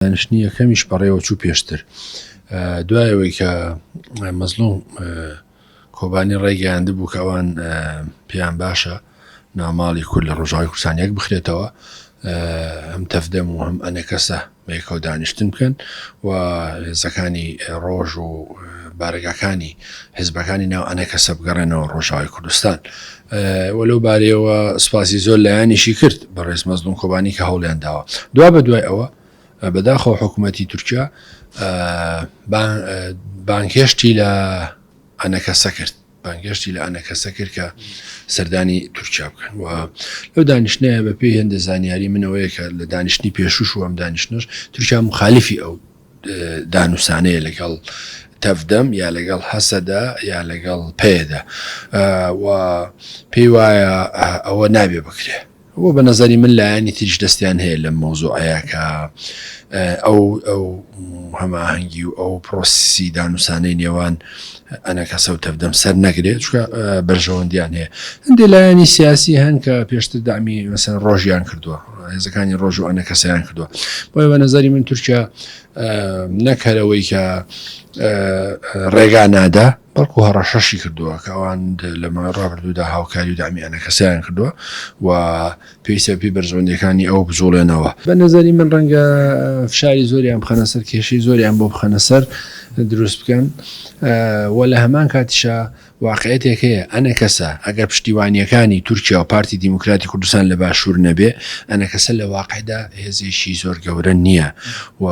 دانیشتنی یەکەمیش بەڕێوەچوو پێشتر دوای ئەوەی کە مەزلوم کۆبانی ڕایگەیاندبوو کە ئەوان پێیان باشە ناوماڵی کورد لە ڕۆژاوی کوردستان یەک بخرێتەوە ئەم تەفدەم و هەم ئەنەکەسە بەیەکەوە دانیشتن بکەن و هێزەکانی ڕۆژ و بارەگاکانی حزبەکانی ناو ئەنەکەسە بگەڕێنەوە ڕۆژاوی کوردستان و لەو بارەیەوە سوپاسی زۆر لایەنیشی کرد بەڕێز مەزلوم کۆبانی کە هەوڵیان داوە دوا بە دوای ئەوە بەداخەوە حکوومەتی تورکیا بانکێشتی لە ئەنەکەسە کرد بانگێشتی لە ئەنەکەسە کرد کە سەردانی تورکیا بکەن و لەو دانیشتنەیە بە پێی هێندە زانیاری منەوەیە کە لە دانیشتنی پێشوش و ئەم دانیشتنش تورکیا مخالیفی ئەو دانوسانەیە لەگەڵ تەڤدەم یا لەگەڵ هەسەدە یا لەگەڵ پەیەدە و پێی وایە ئەوە نابێ بکرێ بۆ بە نەزاری من لایەنی تریش دەستیان هەیە لە مۆزۆعەیە کە ئەو ئەو هەماهەنگی و ئەو پرۆسی دانوسانەی نێوان ئەنەکەسە و تەڤدەم سەر نەگرێت چکە بەرژەوەندیان هەیە هەندێک لایەنی سیاسی هەن کە پێشتر دامی مەسەر ڕۆژیان کردووە هێزەکانی ڕۆژ و ئەنەکەسەیان کردووە بۆی بە نەزاری من تورکیا نەکەرەوەی کە ڕێگا نادا بەڵکو هەڕەشەشی کردووە کەوان لەمە ڕابردوودا هاوکاری و دامیانە کەسیان کردووە و پێویستە پێی بەرژەوەندیەکانی ئەو بجوڵێنەوە. بە نەزەری من ڕەنگە فشاری زۆریان بخەنە سەر کێشەی زۆریان بۆ بخەنە سەر دروست بکەن و لە هەمان کاتیشە واقعێتێک هەیە ئەنەکەسە ئەگەر پشتیوانیەکانی تورکیا و پارتی دیموکراتی کوردستان لە باشوور نەبێ ئەنەکەسە لە واقعدا هێزێکی زۆر گەورە نییە و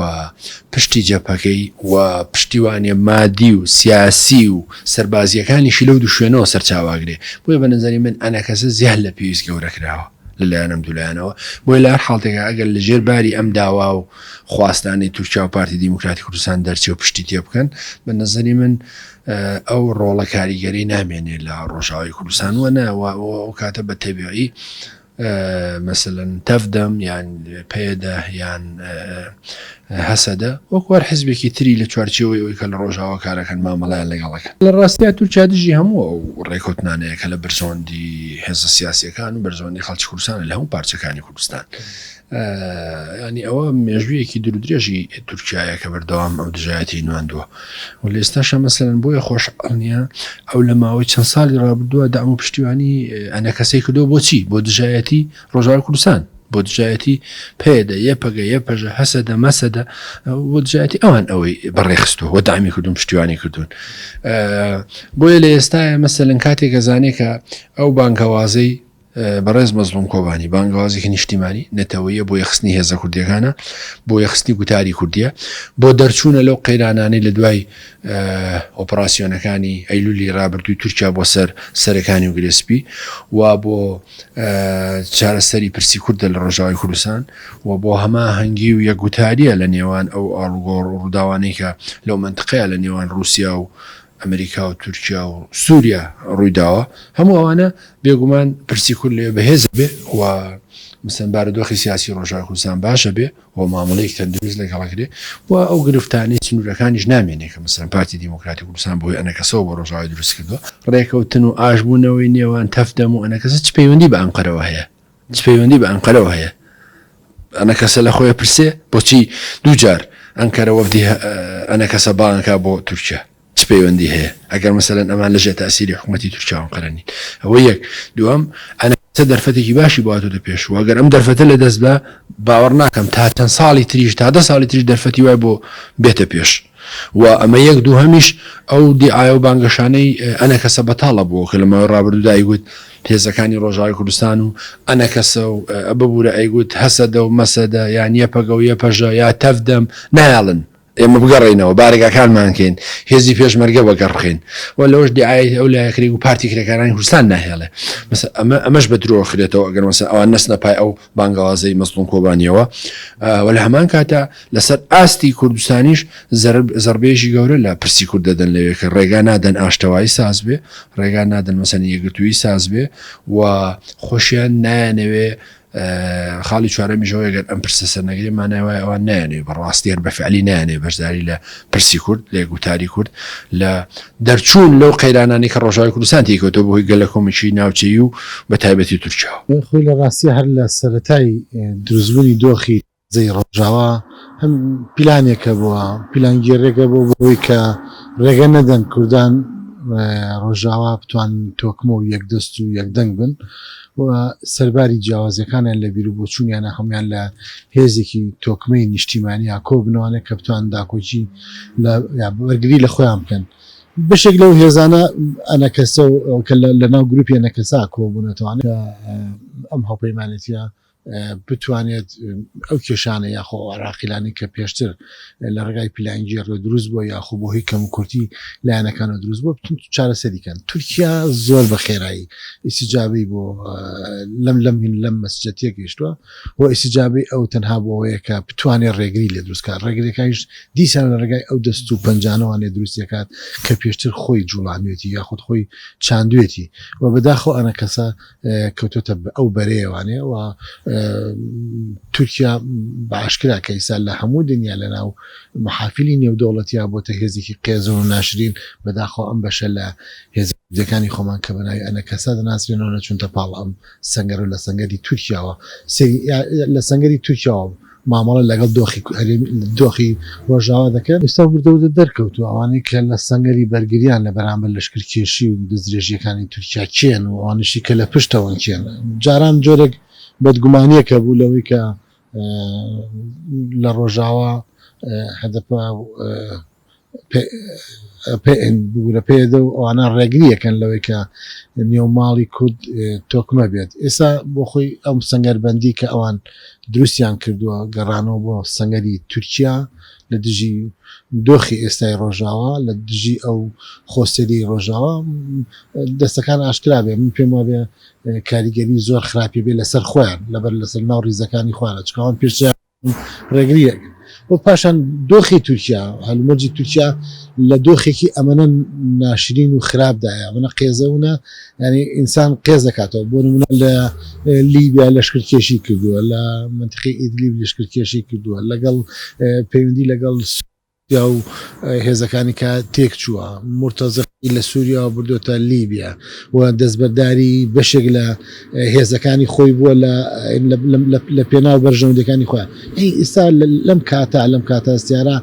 پشتی جەپەکەی و پشتیوانە مادی و سیاسی و سەربازییەکانیشی لەو دوو شوێنەوە سەرچاوئەگرێ، بۆیە بە نەزەری من ئەنەکەسە زیاد لە پێویست گەورە کراوە لە لایەن ئەم دوو لایەنەوە، بۆیە لە هەر حاڵتێکا ئەگەر لە ژێر باری ئەم داوا و خواستانەی تورکیا و پارتی دیموکراتی کوردستان دەرچێ و پشتی تێ بکەن، بە نەزەری من ئەو ڕۆڵە کاریگەرەی نامێنێ لە ڕۆژاوای کوردستان و نە و ئەو کاتە بە تەبیعی مەسەلەن تەڤ دەم یان پەیەدە یان هەسەدە وەکو هەر حزبێکی تری لە چوارچێوەی ئەوی کە لە ڕۆژاوا کارەکەن مامەڵەیان لەگەڵەکەن لە ڕاستیا تورکیا دژی هەموو ئەو ڕێکوتنانەیە کە لە بەرژەوەندی هێزە سیاسیەکان و بەرژەوەندی خەڵکی کوردستانە لە هەموو پارچەکانی کوردستان یانی ئەوە مێژوویەکی درودرێژی تورکایە کە بەردەوام ئەو دژایەتی نواندووە و لە ئێستاشە مەسەرەن بۆیە خۆش ئەڵنیە ئەو لە ماوەی چەند ساڵی ڕابردووە دام و پشتیوانی ئەنە کەسی کردو بۆچی بۆ دژایەتی ڕۆژار کوردستان بۆ دژایەتی پێدە یە پەگە یە پەژە هەسەدە مەسەدە بۆ دژایەتی ئەوان ئەوەی بەڕێخستو و دامی کردون پشتیوانی کردوون بۆیە لە ئێستاە مەسەلەن کاتێکە زانێکە ئەو بانکەوازەی بەڕێز مەزڵوم کۆبانی بانگەوازێکی نیشتیمانی، نەتەوەییە بۆ یەخستنی هێزە کوردییەکانە، بۆ یەخستنی گوتاری کوردییە، بۆ دەرچوونە لەو قەیرانانەی لە دوای ئۆپڕاسیۆنەکانی ئەیلولی رابردووی تورکیا بۆ سەر سەرێکانی و گرێ سپی و بۆ چارەسەری پرسی کوردە لە رۆژاوای کوردستان و بۆ هەماهەنگی و یەکگوتارییە لە نێوان ئەو ئاڵوگۆڕ و رووداوانەی کە لەو مەنتقەیە لە نێوان رووسیا و ئەمریکا و تورکیا و سوریا ڕوویداوە، هەموو ئەوانە بێگومان پرسی کورد لەوێ بەهێز بێ و مەسەلەن بارودۆخی سیاسی ڕۆژاوای کوردستان باش بێ و مامەڵەیەکی تەندروست لەگەڵ کرێ و ئەو گرفتانەی سنوورەکانیش نامێنێ کە مەسەلەن پارتی دیموکراتی کوردستان بەهۆی ئەنەکەسەوە بۆ ڕۆژاوای دروست کردووە. ڕێکەوتن و ئاشبوونەوەی نێوان تەڤ دەم و ئەنەکەسە چ پەیوەندی بە ئەنقەرەوە هەیە؟ چ پەیوەندی بە ئەنقەرەوە هەیە؟ ئەنەکەسە لە خۆی پرسێ بۆچی دووجار ئەنکەرە وەفدی ئەنەکەسە بانکە بۆ تورکیا چ پەیوەندی هەیە ئەگەر مەسەرەن ئەمان لەژێ تاسیری حکوومەتتی تورکیاوان قەرنین ئەوە یەک دوام ئەنەکەسە دەرفەتێکی باشی باتە دە پێش وەگەر ئەم دەرفەتە لە دەست بە باوەڕ ناکەم تا چەند ساڵی تریش تا دە ساڵی تریش دەرفەتی وای بۆ بێتە پێش و ئەمە یەک، دووهەمیش ئەو دیعایە و بانگەشانەی ئەنەکەسە بەتاڵە بۆ کە لە ماوەی ڕابردوودا ئەیگوت هێزەکانی ڕۆژاوی کوردستان و ئەنەکەسە و ببورە ئەیگوت هەسەدە و مەسەدە یان یەپەگە و یەپەژە یا تەڤ دەم نایەڵن ئێمە بگەڕێینەوە بارەگاکانمان کەین هێزی پێشمەرگە وەگەڕ بخەین و لەوەش دیعایەی ئەو لایە کرێ و پارتی کرێکارانی کوردستان ناهێڵێ مەسە ئەمە ئەمەش بە درۆ خرێتەوە ئەگەر مەسە ئەوان نەچنە پای ئەو بانگەوازەی مەزڵوم کۆبانیەوە و لە هەمان کاتە لەسەر ئاستی کوردستانیش زەربێژی گەورە لە پرسی کورد دەدەن لەوێ کە ڕێگا نادەن ئاشتەوایی ساز بێ ڕێگا نادەن مەسەن یەگرتووی ساز بێ و خۆشیان نایەنەوێ خاڵی چوارەمیشەوە گەر ئەم پرسە سەرنەگری مانایوای ئەوان نایێ بەڕاستیان بەفعلی نایێ بەشداری لە پرسی کورد لە گوتاری کورد لە دەرچوون لەو قەیرانانەی کە ڕۆژاوای کوردستان تێی کەوتەوە بەهۆی گەلەکۆمێکی ناوچەیی و بەتایبەتی تورکیاوە. بەڵێ خۆی لە ڕاستیا هەر لە سەرەتای دروستبوونی دۆخی تازەی ڕۆژاوا هەم پیلانێکە بۆ پیلانگێڕێکە بۆ بەوەی کە ڕێگە نەدەن کوردان ڕۆژاوا بتوانن تۆکمە و یەکدەست و یەکدەنگ بن و سەرباری جیاوازیەکانیان لە بیروبۆچونیانە هەموان لە هێزێکی تۆکمەی نیشتیمانیان کۆبنەوانە کە بتوان داکۆکی بەرگری لە خۆیان بکەن بەشێک لەو هێزانە ئەنەکەسە کە لە ناو گروپی ئەنەکەسا کۆبوونەتوانێت ئەم هاوپەیمانێتیە بتوانێت ئەو کێشانە یاخۆ ئەو عراقیلانی کە پێشتر لە ڕێگای پیلانگێڕوە دروست بۆ یاخۆ بۆ هی کەم کورتی لایەنەکانە دروست بۆ بتون چارەسەری کەن تورکیا زۆر بە خێرایی ئیسیجابی بۆ لەم لەم هین لەم مەسجە تێگەیشتووە و ئیسیجابی ئەو تەنها بۆەیە کە بتوانێت ڕێگری لە دروستکار ڕێگرەکانیش دیسان لە ڕێگای ئەو دەست و پەنجانەوانێ دروستەکات کە پێشتر خۆی جوڵانوێتی یاخود خۆی چاندوێتی و بەداخۆ ئەە کەسە کەوتۆتە ئەو بەرەیە وانێ و تورکیا باشکرا کە ئیسا لە هەموو دنیا لە ناو محافلی نێودەوڵەتیا بۆتە هێزێکی قێزەوە و ناشرین بەداخەوە ئەم بەشە لە هێز دەکانی خۆمان کە بەناوی ئەنە کەسا دەناسرێنەوە نەچونتە پاڵ ئەم سەنگەر و لە سەنگەری تورکیاوە سەری لە سەنگەری تورکیاوە مامەڵە لەگەڵ دۆخی هەرێمی دۆخی ڕۆژاوا دەکەن، ئێستا وردەوردە دەرکەوتووە ئەوانەی کە لە سەنگەری بەرگریان لە بەرامبەر لەشکرکێشی و دەستدرێژییەکانی تورکیا کێن و ئەوانەشی کە لە پشتەوەن کێن، جاران جۆرێک بەدگومانییەک هەبوو لەوەی کە لە ڕۆژاوا هەدەپە و. بگورە پەیەدە و ئەوانە ڕێگریەکەن لەوەی کە نێو ماڵی کورد تۆکمە بێت ئێستا بۆ خۆی ئەم سەنگەربەندی کە ئەوان دروستیان کردووە گەڕانەوە بۆ سەنگەری تورکیا لە دژی دۆخی ئێستای ڕۆژاوا لە دژی ئەو خۆسەری ڕۆژاوا دەستەکان ئاشکرا بێ من پێم وابێ کاریگەری زۆر خراپی بێ لەسەر خۆیان لەبەر لەسەر ناو ڕیزەکانی خوارە چکاوان پێشیان ڕێگرییەک و پاشان دۆخی تورکیا، هەلومەرجی تورکیا لە دۆخێکی ئەمەنە ناشرین و خراپ دایە، ئەمەنە قێزەونە یانی ئینسان قێز دەکاتەوە، بۆ نموونە لە لیبیا لەشکرکێشی کردووە، لە مەنتیقی ئیدلیب لەشکرکێشی کردووە، لەگەڵ پەیوەندی لەگەڵ. پیاو هێزەکانی کا تێک چووە مورتەزقی لە سووریاوە بردۆتە لیبیا و دەستبەرداری بەشێک لە هێزەکانی خۆی بووە لە پێناو بەرژەوندەکانی خۆیان ئەی ئیستا لەم کاتا لەم کاتاستیارە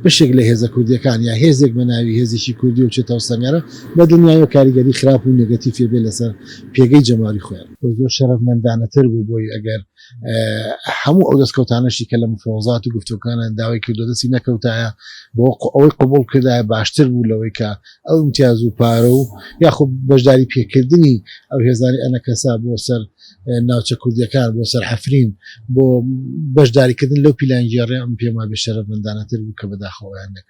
بەشێک لە هێزە کوردیەکان یا هێزێک بە ناوی هێزیی کوردی و چێتەوە سەنگەرە بە دنیاوە کاریگەری خراپ و نگەتی فێبێ لەسەر پێگەی جەماری خۆیان زۆر شەرەفمەندانەتر بوو بۆی ئەگەر هەموو ئەو دەستکەوتانەشی کە لە مفرۆزات و گفتوکانە داوای کردو دەستی نەکەوتایە بۆ ئەوەی قبول کردایە باشتر بوو لەوەی کە ئەو امتیاز و پارە و یاخۆ بەشداری پێکردنی ئەو هێزانی ئەنەکەسا بۆ سەر ناوچە کوردیەکان بۆ سەر حەفرین بۆ بەشداریکردن لەو پیلانگێڕێ ئەم پێم وابێ شەرەف مندانەتر بوو کە بەداخەوەیان نەکرد.